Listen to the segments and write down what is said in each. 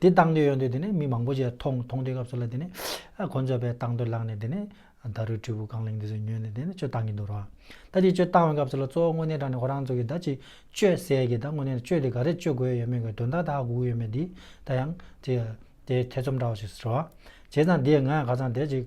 དེ་བཏང་འདོད་ཡོང་དུས་དེ་ནས་མི་མང་པོ་ཞིག་མཐོང་མཐོང་དུས་སྐབས་སུ་ལ་དེ་ནས་ཁོ་ཚོས་བལ་བཏང་འདོད་ལངས་ནས་དེ་ནས་ད་རུས་དྲིལ་བུ་རྐང་གླིང་འདི་ཚོས་ཉོས་ནས་དེ་ནས་གཅོད་བཏང་གི་འདུག་རོ། ད་དེ་གཅོད་བཏང་བའི་སྐབས་སུ་ལ་གཙོ་བོ་དངོས་གནས་དྲང་ནས་ཁོ་རང་ཚོ་གིས་ད་ཅི་གཅོད་ཟེར་གི་ད་དངོས་གནས་ནས་གཅོད་དེ་ག་རེ་གཅོད་དགོས་ཡོད་མེད་གི་དོན་དག་ད་ཧ་གོ་གི་ཡོད་མེད་འདི་ད་ཡང་དེ་ཐེ་ཚོམ་འདྲ་བ་ཞིག་རེད། བྱས་ཙང་དེས་ང་ཡང་ཁ་ཚང་དེ་ཅིག།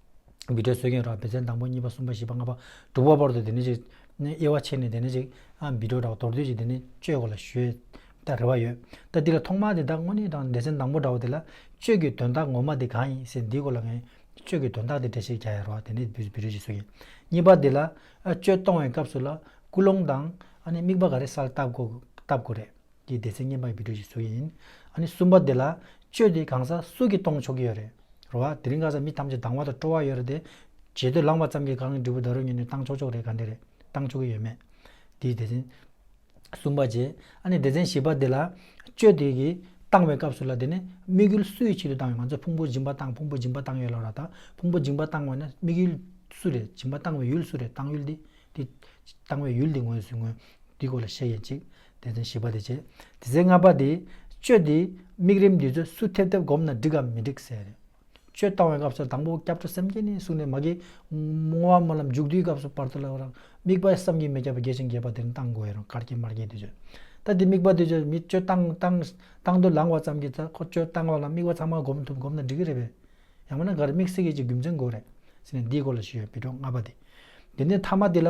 བི་དྲའི་སྲོལ་རྒྱུན་རགས་བི་ཚན་དང་པོ་གཉིས་པ་གསུམ་པ་བཞི་པ་ལྔ་པ་དྲུག་པ་བར་དུ་དེ་ནས་ཅིག། དབྱེ་བ་ཕྱེ་ནས་དེ་ནས་ཅིག། བི་དྲོ་དྲག་དོར་དུས་ཀྱི་དེ་ནས་གཅོད་དགོས་ལ་བཞོད། རེ་བ་ཡོད། ད་འདི་ལ་ཐོག་མར་དེ་དག་དངོས་གནས་དྲང་བདེ་ཚན་དང་པོ་འདྲ་བ་དེ་ལ། གཅོད་ཀྱི་དོན་དག་ངོ་མ་དེ་གང་ཡིན་ཟེར་འདིའི་སྐོར་ལ་ངས། གཅོད་ཀྱི་དོན་དག་དེ་འགྲེལ་བཤད་རྒྱག་ཡ་རོ་ཨ་དེ་ནས་བི་དྲོ་ཞིག་གསུངས་ཡིན། གཉིས་པ་དེ་ལ། གཅོད་གཏོང་བའི་སྐབས་སུ་ལ། ཀུན་སློང་དང། དམིགས་པ་ག་རེ་སལ་བཏབ་དགོས་རེད། འདི་སྡེ་ཚན་སྙན་པ་ཡི་བུད་བྲོ་ཞིག་བཟོ་ཡི་ཡིན། ཨ་ནི་སུམ་པ་དེ་ལ། བཅོས་དེ་གང་ཟག་སུ་གིས་གཏོང་ཆོག་གི་ཡོད་རེད། རེད་བ། དེ་རིང་གང་ཟག་མི་ཐམས་ཅད་སྡང་བ་དང་སྤྲོ་བ་ཡོད་རེད་དེ། བྱེད་འདོད་ལངས་པ་ཙམ་གྱིས་གང་གི་འབྲས་བུ་ད་རུང་ཉོས་ནས་བཏང་ཆོག་ཆོག་རེད་ག་འདྲ་རེད། བཏང་ཆོག་གི་ཡོད་མེད། འདི་སྡེ་ཚན། གསུམ་པ་རྗེས། ཨ་ནི་སྡེ་ཚན་བཞི་པ་དེ་ལ། བཅོས་དེ་གིས། བཏང་བའི་སྐབས་སུ་ལ་དེ་ནི། དམིགས་ཡུལ་སུ་ཡི་ཆེད་དུ་བཏང་བའི་ང་ཚོས་ཕུང་པོ་སྦྱིན་པ་བཏང་ཕུང་པོ་སྦྱིན་པ་བཏང་ཡོད་ལ་ར་ད། ཕུང་པོ་སྦྱིན་པ་བཏང་བ་ནི་དམིགས་ཡུལ། སུ་རེད་སྦྱིན་པ་བཏང་བའི་ཡུལ་སུ་རེད་བཏང་ཡུལ་འདི། འདི། བཏང་བའི་ཡུལ་འདི་ངོས་སུ་ངོས། འདི་སྐོར་ལ་བཤད་ཡིན་གཅིག། དེ་ཚེ་བཞི་པ་དེ་བྱེད། དེ་ཚེ་ལྔ་པ་དེ། སྤྱོད་དེ། དམིགས་རིམ་འདི་ཚོ་སུ་ཐེབས་ཐེབས་བསྒོམ་ན་འགྲིག་གམ་མི་འགྲིག་ཟེར། སྤྱོད་བཏང་བའི་སྐབས་སུ་དང་པོ་སྐྱབས་འགྲོ་སེམས་བསྐྱེད་ནི་གསུངས་ནས་མ་གི། བསྔོ་བ་སྨོན་ལམ་མཇུག་བསྡུའི་སྐབས་སུ་བར་དོ་ལ། དམིགས་པ་བསམ་གྱིས་མི་ཁྱབ་པ་རྒྱས་ཤིང་རྒྱས་པ་དེ་རིང་བཏང་དགོས་ཡོད་རུང་གར་སྐྱེས་མར་སྐྱེས་དུས་བྱོས། ད་དེ་དམིགས་པ་དེ་བྱོས་མི་བྱོས་བཏང་བཏང། བཏང་དུ་ལངས་བ་ཙམ་གྱིས་ད་ཁོ་སྤྱོད་བཏང་བ་ལ་དམིགས་པ་ཚང་མ་བསྒོམ་ཐུབ་བསྒོམ་ན་འགྲིག་གི་རེད་པས། ཡང་མིན་ན་ག་རེ་དམིགས་བསལ་གྱི་གཅིག་རྒྱུ་མཚན་དགོས་རེད། ཟེར་ནས་འདིའི་སྐོར་ལ་ཞུས་ཡོད་པི་ཀྲོ་ལྔ་པ་དེ། དེ་ནས་ཐ་མ་དེ་ལ།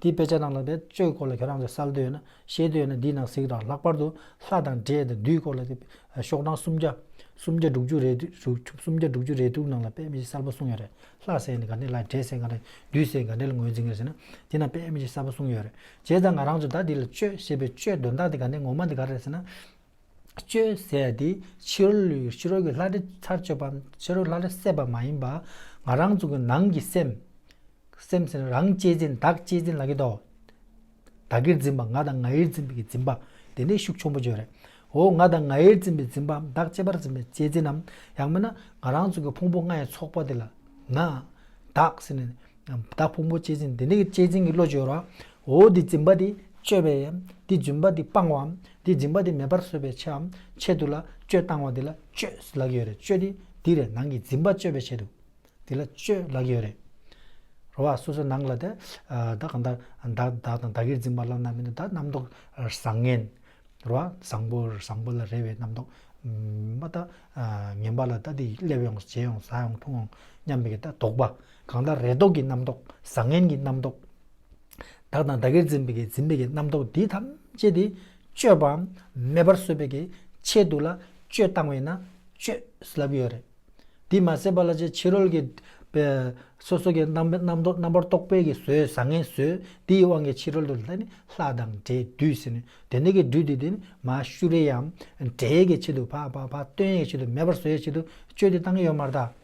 འདིའི་དཔེ་ཆ་རྣམས་ལ་བེད་སྤྱོད་སྐོར་ལ་ཁྱོད་རང་ཚོས་གསལ་འདོད་ཡོད་ན་ཤེས་འདོད་ཡོད་ན་འདིའི་ནང་གཟིགས་དང་ལྷག་པར་དུ་ལྷ་དང་འདྲེ་དང་བདུད་སྐོར་ལ་ཤོག་གྲངས་སུམ་བརྒྱ། སུམ་བརྒྱ་དྲུག་ཅུ་རེ་སུམ་བརྒྱ་དྲུག་ཅུ་རེ་དྲུག་ནང་ལ་དཔེ་མི་གསལ་པོ་གསུངས་ཡོད་རེད་ལྷ་བསད་ནས་ག་འདྲེ་བསླངས་འདྲེ་བསད་ག་འདྲ་བདུད་བསད་ག་འདྲེ་ལ་ངོས་འཛིན་གྱིས་ཟེར་ན་འདི་ནང་དཔེ་མི་གསལ་པོ་གསུངས་ཡོད་རེད་བྱས་ཙང་ང་རང་ཚོས་ད་འདི་ལ་དཔྱོད་ཞེས་པའི་དཔྱོད་དོན་དག་དེ་ག་འདྲེ་ངོ་མ་འདི་ག་རེད་ཟེར་ན། སྤྱོད་ཟད་དེ་ཕྱི་རོལ་གྱི་ལྷ་འདྲེ་ཚར་གཅོད་པ། ཕྱི་རོལ་གྱི་ལྷ་འདྲེ་བསད་པ་མ་ཡིན་པར་ང་རང་ཚོ་གི་ནང་གི་སེམས། སེམས་ནི་རང་གཅེས་འཛིན་བདག་གཅེས་འཛིན་ལ་གི་དོག། བདག་གིར་འཛིན་པ་ང་དང་ང་ཡིར་འཛིན་པའི་གི་འཛིན་པ། དེ་འདྲའི་ཤུགས་ཆུང་པོ་བརྗོད་རེད། འོ་ང་དང་ང་ཡིར་འཛིན་པའི་འཛིན་པའམ་བདག་གཅེས་པར་འཛིན་པའི་གཅེས་འཛིན་ནམ་ཡང་མིན་ན་ང་རང་ཚོ་གི་ཕུང་པོ་ལྔའི་ཚོགས་པ་དེ་ལ་ན། བདག་སེམས་ནི། བདག་ཕུང་པོ་གཅེས་འཛིན་དེ་འདྲའི་གི་གཅེས་འཛིན་གི་བློ་བརྗོད་རོགས། འོ་དེ་འཛིན་པ་དེ་གཅོད་པའམ་དེ་འཛིན་པ་དེ་སྤང་བའམ་དེ་སྦྱིན་པ་དེ་མེད་པར་བཟོད་པའི་ཆེའམ་ཆེད་དུ་ལ་སྤྱོད་བཏང་བ་དེ་ལ་སྤྱོད་ལགས་ཡོད་རེད་སྤྱོད་དེ་འདི་རེད་ནང་གི་སྦྱིན་པ་སྤྱོད་པའི་ཆེད་དུ་དེ་ལ་སྤྱོད་ལགས་ཡོད་རེད། རོ་བ་སོ་སོའི་ནང་ལ་དེ་བདག་གང་ལྟར་བདག་བདག་དང་བདག་གིར་འཛིན་པ་བླ་ན་མེད་དོ་བདག་རྣམ་རྟོག་བཟང་ངན། རོ་བ་བཟང་པོ་བཟང་པོ་ལ་རེ་བའི་རྣམ་རྟོག་མ་བདག་ངན་པ་ལ་བདག་འདི་སླེབས་ཡོང་བྱས་ཡོང་ཟ་ཡོང་འཐུང་ཡོང་སྙམ་པའི་བདག་རྟོག་པ་གང་ལྟར་རེ་དོགས་ཀྱི་རྣམ་རྟོག་བཟང་ངན་གྱི་རྣམ་རྟོག། བདག་དང་བདག་གིར་འཛིན་པའི་འཛིན་མེད་ཀྱི་རྣམ་རྟོག་འདི་ཐམས་ཅད་དེ་སྤྱོད་པའམ་མེད་པར་བཟོ་བའི་ཆེད་དུ་ལ་སྤྱོད་བཏང་བས་ན་སྤྱོད་ལབ་ཡོད་རེད། དེ་མ་ཟད་པ་ལ་ཅིའི་ཕྱིར་རོལ་གྱི་སོ་སོ་གྱི་རྣམ་རྟོག་རྣམ་པར་རྟོག་པའི་གྱི་ཟོལ་བཟང་ངན་ཟོལ་དེའི་དབང་གིས་ཕྱི་རོལ་དུ་ལྷ་དང་འདྲེ་བདུད་ཟེར་ནས་དེ་འདྲ་གྱི་སྦྲུལ་དེ་དེ་མ་ཤུ་རེ་ཡའམ་འདྲེ་ཡའི་གྱི་ཆེད་དུ་བ་བ་བ་སྟོན་ཡའི་གྱི་ཆེད་དུ་མེད་པར་བཟོ་ཡའི་ཆེད་དུ་སྤྱོད་དེ་བཏང་གི་ཡོད་མ་རེད་ད།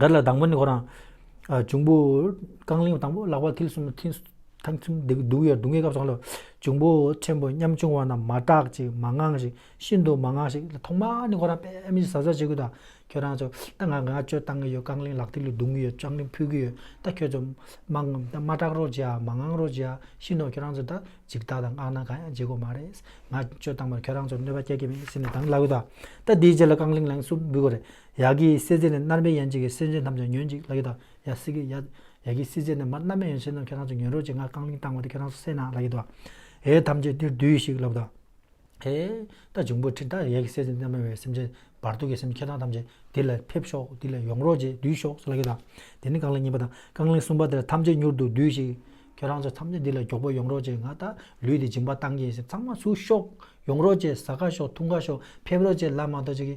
དེ་ལ་དང་པོ་ནི་ཁོ་རང། འབྱུང་པོ། རྐང་གླིང་དང་པོ་ལག་པ་མཐིལ་གསུམ་མཐིང། ཐང་གསུམ་སྡུག་ཡོད་སྡུག་བསྔལ་སྐབས་སུ་ཁ་ལོ། འབྱུང་པོ་ཆེན་པོ་ཉམ་ཆུང་བ་རྣམས་མ་དག་ཅིག་མ་དངངས་ཤིག་ཤིན་ཏུ་མ་དངངས་ཤིག་ལ་ཐོག་མ་ནི་ཁོ་རང་དཔེ་མི་གཟབ་གཟབ་བྱེད་ཀྱི་འདུག་ཁྱོད་རང་ཚོ། ད་ང་ང་ཅོ་བཏང་གི་ཡོད་རྐང་གླིང་ལག་མཐིལ་རྡུང་གི་ཡོད་ལྕགས་རིང་ཕུད་ཀྱི་ཡོད་ད་ཁྱོད་ཚོ། མ་སྐྲག་རོགས་བྱེད་ཨ་མ་དངངས་རོགས་བྱེད་ཨ་ཤི་ནོ་ཁྱོད་རང་ཚོ་ད་འཇིག་ལྟ་དང་དངངས་ན་གང་ཡང་བྱེད་དགོས་མ་རེད། ང་ཅོ་བཏང་བར་ཁྱོད་རང་ཚོར་གནོད་པ་བསྐྱལ་གྱི་མེད་ཟེར་ནས་དང་ལ་གི་འདུག་ད་དེའི་རྗེས་ལ་རྐང་གླིང་ལན་གསུམ་འབུད་དགོས་རེད། ཡ་གི་སྲིད་རྩེ་ནས་མནར་མེད་ཡན་ཆད་ཀྱི་སེམས་ཅན་རྣམས་ཀྱང་ཉོན་ཅིག་ལག་གི་དང། ཡ་སི་གི། ཡ་གི་སྲིད་རྩེ་ནས་མར་མནར་མེད་ཡན་ཆད་རྣམས་ཁྱེད་རང་ཚོ་ཉོན་རོགས་ཅིག་ང་རྐང་གླིང་བཏང་བ་དེ་ཁྱེད་རང་ཚོ་སེ་ན་ལག་གི་དང། ཧེ་ཐམས་ཅད་འདིར་འདུས་ཤིག་ལག་གི་དང། ཧེ། ད་འབྱུང་པོ་ཁྲི་ད་ཡ་གི་སྲིད་རྩེ་ནས་མནར་མེད་བའི་སེམས་ཅན་བར་དོ་གི་སེམས་ཁྱེད་རང་ཐམས་ཅད་འདི་ལ་ཕེབས་ཤོག་འདི་ལ་ཡོང་རོགས་ཅིག་འདུས་ཤོག་ལག་གི་དང། དེ་ནས་རྐང་གླིང་གཉིས་པ་དང་རྐང་གླིང་གསུམ་པ་དེ་ལ་ཐམས་ཅད་མྱུར་དུ་འདུས་ཤིག། ཁྱེད་རང་ཚོ་ཐམས་ཅད་འདི་ལ་མགྱོགས་པོ་ཡོང་རོགས་ཅིག་ང་ད་ལུས་འདི་སྦྱིན་པ་བཏང་གི་ཡིན་སེམས་ཚང་མ་ཚུར་ཤོག། ཡོང་རོགས་ཅིག་ཟ་ག་ཤོག་འཐུང་ག་ཤོག་ཕེབས་རོགས་ཅིག་ལ་མ་གཏོགས་ཅི་གི་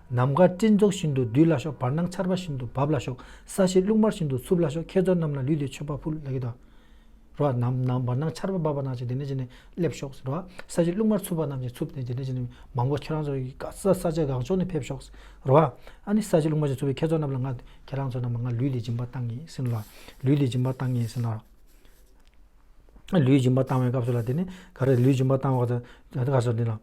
ནམ་མཁའ་སྤྲིན་ཚོགས་བཞིན་དུ་བསྡུས་ལ་ཤོག་བར་སྣང་ཆར་པ་བཞིན་དུ་འབབ་ལ་ཤོག་ས་གཞི་རླུང་དམར་བཞིན་དུ་འཚུབ་ལ་ཤོག་ཁྱེད་ཚོ་རྣམས་ལ་ལུས་འདི་མཆོད་པ་ཕུལ། ལག་གི་དང། རོ། ནམ་ནམ་བར་སྣང་ཆར་པ་འབབ་པ་རྣམས་ཀྱིས་དེ་ནས་ཀྱིས་ནས་སླེབས་ཤོག། རོ། ས་གཞི་རླུང་དམར་འཚུབ་པ་རྣམས་ཀྱིས་འཚུབ་དེ་ནས་ཀྱིས་ནས་མང་པོ་ཁྱེད་རང་ཚོ་ཡི་ག་ས་ས་ཆ་གང་ཕྱོགས་ནས་ཕེབས་ཤོག། རོ། ཨ་ནི་ས་གཞི་རླུང་དམར་གྱིས་འཚུབ་པའི་ཁྱེད་ཚོ་རྣམས་ལ་ང། ཁྱེད་རང་ཚོ་རྣམས་ལ་ང་ལུས་འདི་སྦྱིན་པ་བཏང་ཡིན་ཟིན་ལ། ལུས་འདི་སྦྱིན་པ་བཏང་ཡིན་ཟིན་ལ། ལུས་སྦྱིན་པ་བཏང་བའི་སྐབས་སུ་ལ་དེ་ནི་ག་རེ་ལུས་སྦྱིན་པ་བཏང་བ་དང་ད་ག་སོ་དེ་ལ།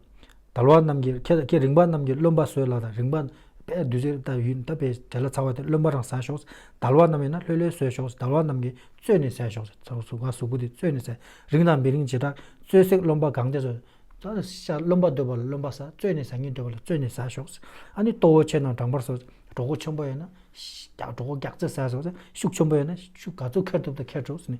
དལ་བ་རྣམས་ཀྱི་ཁྱེད་ཀྱི་རིངས་པ་རྣམས་ཀྱི་རློན་པ་ཟོས་ལ་དང་རིངས་པ་པས་བདུད་རྩི་དང་ཡུན་བཏབ་པའི་དྲེ་ལ་ཚ་བ་དེ་རློན་པ་རང་ཟ་ཞོག་དལ་བ་རྣམས་ཡིན་ན་ལྷོད་ལྷོད་ཟོས་ཞོག་དལ་བ་རྣམས་ཀྱིས་བཙོས་ནས་ཟས་ཞོག་ཚ་བ་ཟུག་ག་ཟུག་གུ་དེ་བཙོས་ནས་ཟས་རིངས་དང་མི་རིངས་བྱེ་བྲག་བཙོས་བསྲེགས་རློན་པ་གང་དེ་ཟོས། ཤ་རློན་པ་འདོད་པ་ལ་རློན་པ་ཟ་བཙོས་ནས་ཟ་ཉེན་འདོད་པ་ལ་བཙོས་ནས་ཟ་ཞོག་ཨ་ནི་ལྟོ་བོ་ཆེ་དང་སྦྲང་པར་ཟོས་གྲོག་གུ་ཆེན་པོ་ཡོད་ན། གྲོག་གུ་སྒྱག་རྩེ་ཟས་ཟོས་ཤུགས་ཆེན་པོ་ཡོད་ན་ཤུགས་ག་ཚོད་ཁེར་ཐུབ་དང་ཁེར་བྲོ་ཟེར་ནས་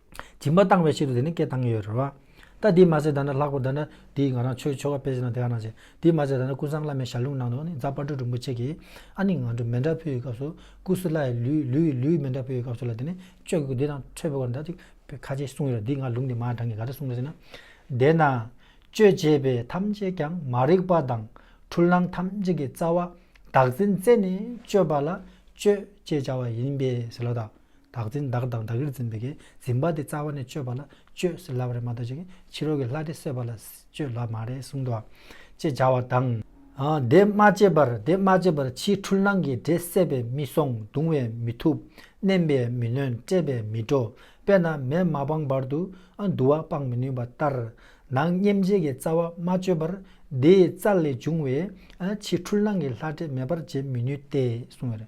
སྦྱིན་པ་བཏང་བའི་ཕྱིར་དུ་དེ་ནི་སྐད་བཏང་ཡོད་རེད་བ། ད་དེས་མ་ཟད་ད་ནི་ལྷག་པར་ད་ནི་དེས་ང་རང་ཆོས་འཆོལ་བ་སྤེལ་ཟིན་ན་དེ་ག་ནང་བྱེད། དེས་མ་ཟད་ད་ནི་ཀུན་བཟང་བླ་མའི་ཞར་ལུང་ནང་དུ་ནི་རྫ་དཔའ་འབྲུག་རིན་པོ་ཆེ་གིས་ཨ་ནི་ང་འགྲོ་མེ་འདྲ་ཕུལ་བའི་སྐབས་སུ་ཀུ་སུ་ལ་ཡི་ལུས་ལུས་ཡི་ལུས་མེ་འདྲ་ཕུལ་བའི་སྐབས་སུ་ལ་དེ་ནི་གཅོད་དགོས་འདི་དང་འཕྲོད་པའི་བར་འདྲ་ཅིག་པའི་ཁ་ཆེ་གསུངས་ཡོད་རེད་འདི་ང་ལུང་དེ་མ་དྲངས་ཀྱི་ག་འདྲ་གསུངས་ཟེར་ན། དེས་ན། གཅོད་བྱེད་པའི་ཐམས་ཅད་ཀྱང་མ་རིག་པ་དང་འཁྲུལ་སྣང་ཐམས་ཅད་ཀྱི་རྩ་བ་བདག་འཛིན་རྩད་ནས་གཅོད་པ་ལ་གཅོད་ཅེས་བྱ་བ་ཡིན་པས་ཟེར་ལོ་ད། བདག་འཛིན་བདག་དང་བདག་གིར་འཛིན་པའི་གེགས་འཛིན་པ་དེ་རྩ་བ་ནས་གཅོད་པ་ལ་གཅོད་ཟེར་ལབ་རེད་མ་གཏོགས་ཅིག་ཕྱི་རོལ་གྱི་ལྷ་དེ་གསོད་པ་ལ་གཅོད་ལབ་མ་རེད་གསུངས་འདུག་ཅེས་བྱ་བ་དང། དེ་མ་བྱས་པར་དེ་མ་བྱས་པར་ཕྱིའི་འཁྲུལ་སྣང་གི་འདྲེ་བསད་པས་མི་སོང་བརྡུང་བས་མི་ཐུབ་མནན་པས་མི་ལོན་བསྐྲད་པས་མི་འགྲོ་དཔེར་ན་མེས་མ་སྤངས་བར་དུ་དུ་བ་སྤང་མི་ནུས་པ་ལྟར། ནང་སྙེམས་བྱེད་ཀྱི་རྩ་བ་མ་གཅོད་པར་དེའི་རྩ་ལས་འབྱུང་བའི་ཕྱིའི་འཁྲུལ་སྣང་གི་ལྷ་འདྲེ་མེད་པར་བྱེད་མི་ནུས་ཏེ་གསུངས་ཡོད།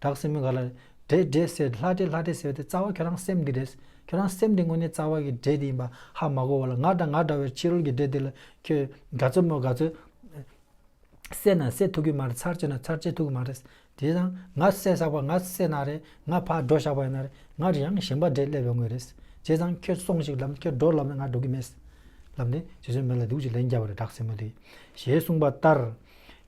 བྲག་སྲིན་མོ་ག་ལ། འདྲེ་འདྲེ་ཟེར་ལྷ་འདྲེ་ལྷ་འདྲེ་ཟེར་བ་དེ་རྩ་བ་ཁྱོད་རང་སེམས་འདི་རེད། ཁྱོད་རང་སེམས་འདི་དངོས་གནས་རྩ་བ་གི་འདྲེ་འདི་ཡིན་པ་ཧ་མ་གོ་བ་ལ་ང་དང་ང་འདྲ་བའི་ཕྱི་རོལ་གྱི་འདྲེ་འདི་ལ་ཁྱོད་ག་ཚོད་སྨོད་ག་ཚོད། བསད་ན་བསད་ཐུབ་ཀྱི་མ་རེད་ཚར་བཅད་ན་ཚར་བཅད་ཐུབ་ཀྱི་མ་རེད། དེས་ན་ང་བསད་བཞག་པ་ང་བསད་ན་རེད་ང་ཕར་འགྲོ་བཞག་པ་ཡིན་ན་རེད་ང་རེད་ཡང་ཞིང་པ་འདྲེ་སླེབས་ཡོང་གི་རེད། བྱས་ཙང་ཁྱོད་སོང་ཞིག་ལབ་ཁྱོད་འགྲོ་ལབ་ན་ང་འགྲོ་གི་མེད། ལབ་ནས་རྗེ་བཙུན་མི་ལ་སྡིགས་ཀྱི་ལན་རྒྱབ་པ་རེད་བྲག་སྲིན་མོ་དེས། ཞེས་གསུངས་པ་ལྟར།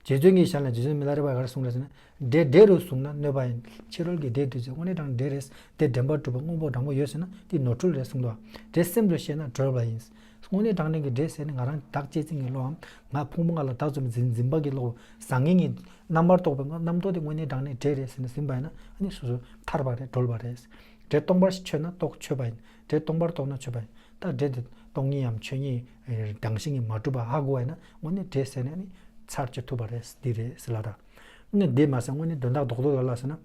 རྗེ་བཙུན་གྱིས་ཞལ་ནས་རྗེ་བཙུན་མི་ལ་རེ་བ་ག་རེ་གསུངས་རེད་ཟེར་ན། སྒྲའི་སྒྲས་རོལ་བཟུང་ན་གནོད་པ་ཡིན། ཕྱི་རོལ་གྱི་སྒྲས་བསྡུས་ཚེ་དབེན་རེ་དང་འབྲེལ་རེད། སྒྲའི་འདྲེན་པ་གྲུབ་པ་དངོས་པོ་དྲང་པོ་ཡོད་ཟེར་ན་འདི་ནོར་འཁྲུལ་རེད་གསུངས་འདུག་སྒྲའི་སེམས་རེད་བཤད་ན་གྲོལ་བ་ཡིན། དངོས་གནས་དྲང་ལྡན་གྱི་སྒྲས་ཟེར་ནི་ང་རང་བདག་གཅེས་འཛིན་གྱི་བློའམ། ང་ཕུང་པོ་ང་ལ་བདག་བཙོན་འཛིན་འཛིན་པ་གྱི་བློ། བཟང་ངན་གཉིས། རྣམ་པར་རྟོག་པའི་ངོ་རྣམ་རྟོག་དེ་དངོས་གནས་དྲང་གནས་སྒྲས་རེད་ཟེར་ནས་ཟིན་པ་ཡིན་ན་ཨ་ནི་སོ་སོ་ཐར་བ་རེད་གྲོལ་བ་རེད། སྒྲས་སྟོང་པར་ཆོད་ན་རྟོག་ཆོད་པ་ཡིན། སྒྲས་སྟོང་པར་རྟོག་ན་ཆོད་པ་ཡིན། ད་སྒྲས་འདི་སྟོང་ཉིད་འམ་ཆོད་ཉིད། རང་བཞིན་གྱིས་མ་གྲུབ་པ་ཧ་གོ་བ་ཡིན་ན་དངོས་གནས་སྒྲས་ཟེར་ནས་ནི་ཚར་གཅོད་ཐུབ་པ་རེད་འདི་རེད་ཟེར་ལ་དང། ནི་བདེ་མ་ཟད་དངོས་ནི་དོན་དག་ལྡོག་ལྡོག་ལ་ལ་ཟེར་ན།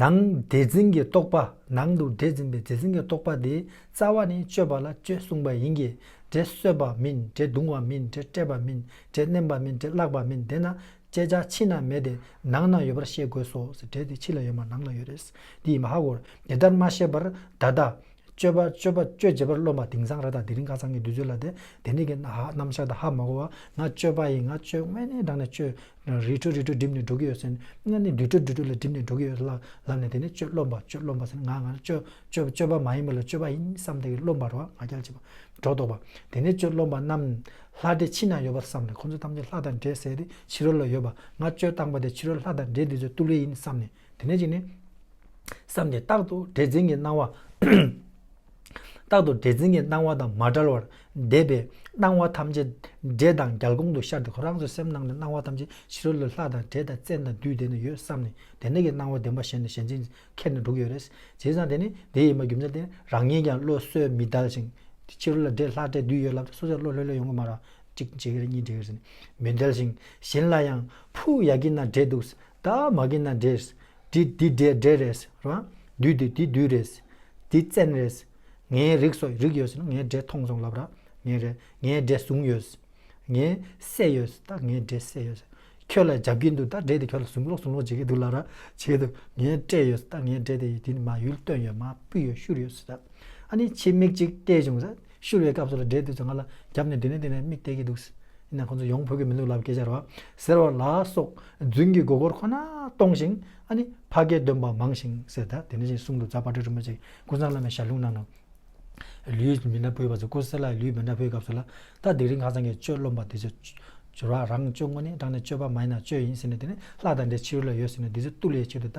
ནང་བདེ་འཛིན་གྱི་རྟོག་པ་ནང་དུ་བདེ་འཛིན་པའི་བདེ་འཛིན་གྱི་རྟོག་པ་དེའི་རྩ་བ་ནི་སྤྱོད་པ་ལ་སྤྱོད་གསུངས་པ་ཡིན་གྱི་དགྲས་གསོད་པ་མིན་དགྲས་རྡུང་བ་མིན་དགྲས་བསྐྲད་པ་མིན་དགྲས་མནན་པ་མིན་དགྲས་བརླག་པ་མིན་དེས་ན་སྤྱད་བྱ་ཕྱི་ན་མེད་དེ་ནང་ན་ཡོད་པར་ཤེས་དགོས་སོ་ཟེར་དགྲས་དེ་ཕྱི་ལ་ཡོད་མ་ནང་ལ་ཡོད་རེད་ཟེར་འདི་ཡིན་པ་ཧ་གོ་རེད་དེ་ལྟར་མ་ཤེས་པར་བདག་དང་སྤྱོད་པ་སྤྱོད་པ་སྤྱོད་བྱེད་པར་རློམ་པ་དིང་སང་ར་དང་དེ་རིང་ཁ་སང་གི་དུས་ཚོད་ལ་དེ་དེ་འདྲས་ཀྱི་རྣམ་གཞག་དང་ཧ་མ་གོ་བར་ང་སྤྱོད་པ་ཡིན་ང་སྤྱོད་དངོས་གནས་དྲང་ནས་སྤྱོད། རིས་འཕྲོ་རིས་འཕྲོ་སྒྲིབ་ནས་འགྲོ་གི་ཡོད་ཟེར་ནས་དངོས་གནས་དུས་འཕྲོ་དུས་འཕྲོ་ལ་སྒྲིབ་ནས་འགྲོ་གི་ཡོད་ལབ་ལབ་ནས་དེ་ནས་སྤྱོད་རློམ་པ་སྤྱོད་རློམ་པ་ཟེར་ནས་ང་ང་སྤྱོད་སྤྱོད་སྤྱོད་པ་མ་ཡིན་པ་ལ་སྤྱོད་པ་ཡིན་བསམ་ཐེངས་རློམ་པར་བ་ང་རྒྱལ་བྱེད་པ་སྒྲོ་འདོགས་པ་དེ་ནས་སྤྱོད་རློམ་པ་རྣམས་ལྷ་འདྲེ་ཕྱི་ན་ཡོད་པར་བསམ་ནས་ཁོ་ཚོ་ཐམས་ཅད་ལྷ་དང་འདྲེ་ཟེར་ཏེ་ཕྱི་རོལ་ལ་ཡོད་པ་ང་སྤྱོད་སྟངས་པ་དེ་ཕྱི་རོལ་ལྷ་དང་འདྲེ་འདི་ཚོའི་ཏུ་ལེ་ཡིན་བསམ་ནས། དེ་ནས་ཅིག་ནི། བསམ་སྟེ་རྟག་ཏུ་སྒྲའི་འཛིན་གྱི་སྣང་བ། རྟག་ཏུ་སྒྲའི་འཛིན་གྱི་སྣང་བ་དང་མ་བྲལ་བར་འདས་པའི་སྣང་བ་ཐམས་ཅད་འདྲེ་དང་རྒྱལ་གོང་དུ་ཤར་ཏེ་ཁོ་རང་ཚོའི་སེམས་ནང་ནས་སྣང་བ་ཐམས་ཅད་ཕྱི་རོལ་ལ་ལྷ་དང་འདྲེ་དང་བཙན་དང་བདུད་དེ་ནས་ཡོད་བསམ་ནས་དེ་འདྲ་གི་སྣང་བ་བདེན་པ་གཞན་ནས་གཞན་འཛིན་ཁྱེར་ནས་འདུག་ཡོད་རེད། བྱས་ཙང་དེ་ནི་དེ་ཡིན་པར་རྒྱུ་མཚན་ཏེ་རང་ཉིད་ཀྱང་བློ་གསོས་མི་དལ་ཞིང། ཕྱི་རོལ་ལ་འདྲེ་ལྷ་བཙན་བདུད་ཡོད་ལབ་ཏེ་སོ་སོས་བློ་ལྷོད་ལྷོད་ཡོང་གི་མ་རེད། གཅིག་འདྲེ་གི་རེད་གཉིས་འདྲེ་གི་རེད་ཟེར་ནས་མི་དལ་ཞིང་གཞན་ལ་ཡང་ཕུ་ཡག་གི་ན་འདྲེ་འདུག་ད་མ་གི་ན་འདྲེས། དྲི་འདི་འདྲེ་འདྲེ་རེས་རང། འདུས་འདི་འདུས་འདུས་རེས། འདི་བཙན་རེས། ངའི་རིགས་སོགས་རིགས་ཡོད་ཟེར་ན་ངའི་འདྲེ་ཐོང་ཟོང་ལབ་ར། ངའི་རེས། ངའི་འདྲེ་བཟུང་ཡོད། ངའི་བསད་ཡོད། ད་ངའི་འདྲེ་བསད་ཡོད། ཁྱོད་ལ་རྒྱབ་ཀྱིན་འདུག་ད་འདྲེ་དེ་ཁྱོད་ལ་ཟུང་ལོག་ཟུང་ལོག་བྱེད་ཀྱིན་འདུག་ལབ་ར། བྱེད་དུ་ངའི་སྤྲད་ཡོད། ད་ངའི་འདྲེ་དེ་ཡིས་དེ་མ་ཡུལ་བཏོན་ཡོད་མ་སྤུས་ཡོད་བཤུར་ཡོད། ཨ་ནི་ཕྱི་མིག་ཅིག་བལྟས་བྱུང། ཤི་བའི་སྐབས་སུ་ལ་སྦྲེལ་དུས་སུ་ང་ལ་རྒྱབ་ནས་འདི་ནས་འདི་ནས་མིག་བལྟས་ཀྱི་འདུག། ཡིན་ནའང་ཁོང་ཚོ་ཡོང་ཕོད་ཀྱི་མི་འདུག་ལབ་ཀྱི་ཤར་བ། ཟེར་བ་ལ་སོགས་རྫུན་གྱི་མགོ་སྐོར་ཁོ་ན་གཏོང་ཞིང་ཨ་ནི་ཕ་སྐད་འདོན་པ་མང་ཞིང་ཟེར་ད་དེ་ནས་བཞིན་གསུང་དུ་རྫ་དཔའ་ཁྲི་རིན་པོ་ཆེ་ཀུན་བཟང་བླ་མའི་ཞབས་ལྷུང་གནང་ནོ། ལུས་མི་འདྲ་བོའི་བར་དུ་ཀུ་སེ་ལ་ཡི་ལུས་མི་འདྲ་བོའི་སྐབས་སུ་ལ་ད་དེ་རིང་ཁ་སང་གི་གཅོད་རློམ་པ་དེ་ཚོ། སྦྱོར་བ་རང་གཅོད་ངོ་ནས་བགྲང་ནས་གཅོད་པ་མ་ཡིན་ན་གཅོད་ཡིན་ཟེར་ནས་དེ་ནས་ལྷ་དང་འདྲེ་ཕྱི་རོལ་ལ་ཡོད་ཟེར་ནས་དེ་ཚོའི་བཏུ་ལས་ཆེད་དུ་ད།